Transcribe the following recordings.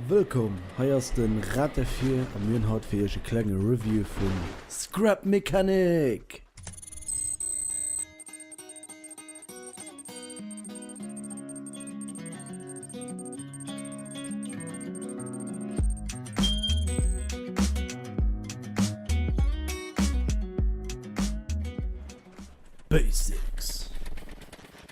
Wëllkomm, hei ass den Rat der Vier an mir hunn haut fir iech e klenge Review vun Scrap Mechanic! Basics.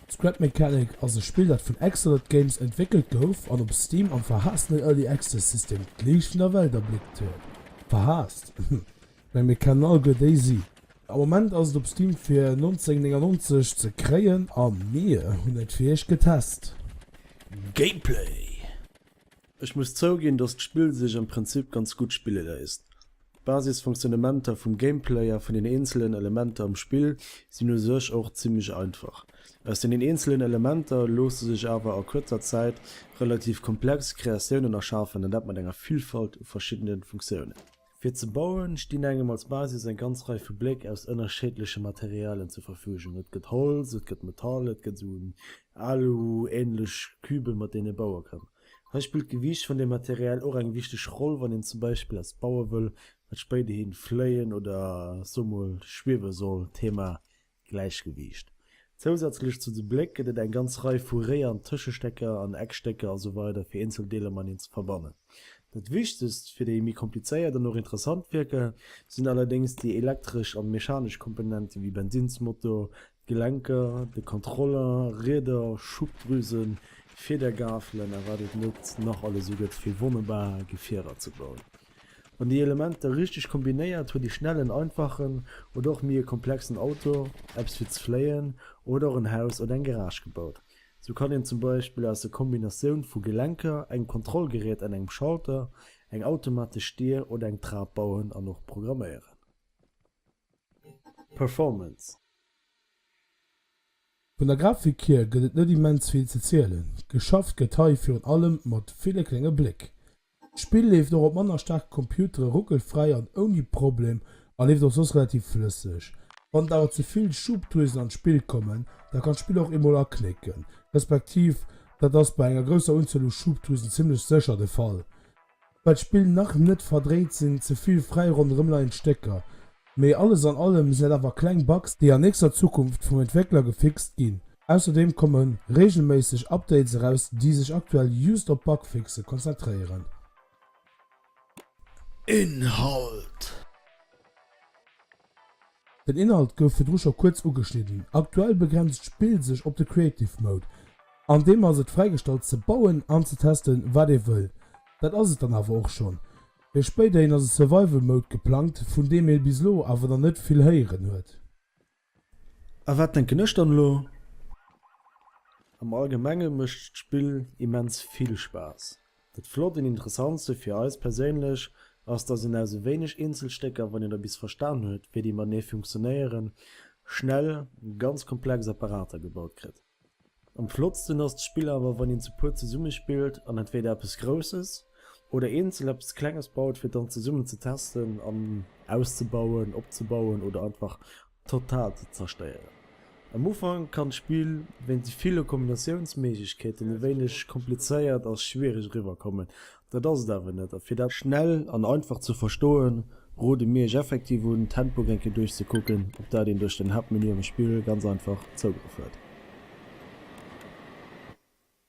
Scrap Mechanic ass e Spill dat vun Axolot Games entwéckelt gouf an op Steam am verhaasstene Early Access System d'Liicht vun der Welt erbléckt huet. Verhaasst? Ech meng mir kennen all guer déi si. Am Moment ass et op Steam fir 19,99 ze kréien a mir hunn et fir iech getest. Gameplay. Ech muss zouginn dass d'Spill sech am Prinzip ganz gutt spille léisst. D'Basisfonktionnementer vum Gameplay a vun den eenzelen Elementer am Spill sinn u sech och zimmlech einfach. Aus den eenzelen Elementer loosse sech awer a kuerzer Zäit relativ komplex Kreatiounen erschafen an dat mat enger Villfalt u verschiddene Funktiounen. Fir ze bauen stinn engem als Basis eng ganz Rei vu Bléck aus ënnerschiedleche Materialien zur Verfügung, et gëtt Holz, et gëtt Metall, et gëtt esou Alu-änlech Küben mat deenen ee baue kann. Hei spillt d'Gewiicht vun dem Material och eng wichteg Roll, wann een zum Beispill eppes baue wëll, wat spéiderhi fléien oder soe mol schwiewe soll, Thema Gläichgewiicht. Zousätzlech zu de Bléck gëtt et eng ganz Rei vu Réier an Tëschestécker an Eckstécker a sou weider fir eenzel Deeler mateneen ze verbannen. Dat wichtegst fir déi méi komplizéiert an och interessant Wierker sinn allerdéngs déi elektresch an mechanesch Komponenten, wéi Bensinsmotor, Gelenker, de Contrôleur, Rieder, Schubdrüsen, Fiedergafelen a wat et net nach alles esou gëtt fir wonnerbar Gefierer ze bauen. Wann déi Elementer richteg kombinéiert, huet ee schnell en einfachen oder och méi e komplexen Auto, eppes fir ze fléien oder och en Haus oder eng Garage gebaut. Sou kann een zum Beispill aus der Kombinatioun vu Gelenker, engem Kontrollgerät an engem Schalter eng automatesch Dier oder eng Trap bauen an och programméieren. Performance. Vun der Grafik hier gëtt et net immens vill ze zielen, geschafft gëtt hei virun allem mat ville klénge Bléck. D'Spill leeft och op manner staarke Computere ruckelfräi an ouni Problem a leeft och soss relativ flësseg. Wann et awer ze vill Schubdrüsen an d'Spill kommen, da kann d'Spill och eemol aknécken, respektiv dat ass bei enger grousser Unzuel u Schubdrüsen zimmlech sécher de Fall. Well d'Spill nach net verdréit sinn ze vill fräi ronderëmleiend Stécker, mee alles an allem sinn dat awer kleng Bugs déi an nächster Zukunft vum Entwéckler gefixt ginn. Ausserdeem komme reegelméisseg Updates eraus déi sech aktuell just op Bugfixe konzentréieren. Inhalt. Den Inhalt gouf virdru scho kuerz ugeschnidden. Aktuell begrenzt d'Spill sech op de Creative Mode. An deem ass et fräigestallt ze bauen an ze testen wat ee wëll. Dat ass et dann awer och schonn. Fir spéiderhin ass e Survival Mode geplangt, vun deem ee bis elo awer nach net vill héieren huet. A wat denken ech dann elo? Am Allgemenge mécht d'Spill immens vill Spaass. Dat flott an interessantste fir eis perséinlech ass, dass een aus e wéineg Eenzelstécker, wann een da bis verstan huet, wéi déi matenee funktionéieren, schnell ganz komplex Apparater gebaut kritt. Am flottsten ass d'Spill awer, wann een zu puer zesummespillt an entweeder eppes Grousses oder eenzel eppes Klenges baut, fir et dann zesummen ze testen an auszebauen, opzebauen oder einfach total ze zerstéieren. Am Ufank kann d'Spill wéinst de ville Kombinatiounsméiglechkeeten e wéineg komplizéiert a schwiereg eriwwer kommen, dat ass et awer net a fir dat. Schnell an einfach ze verstoen, rode mir iech effektiv un d'Handbook eng Kéier duerchzekucken, op dat een duerch den Haaptmenü am Spill ganz einfach Zougrëff huet.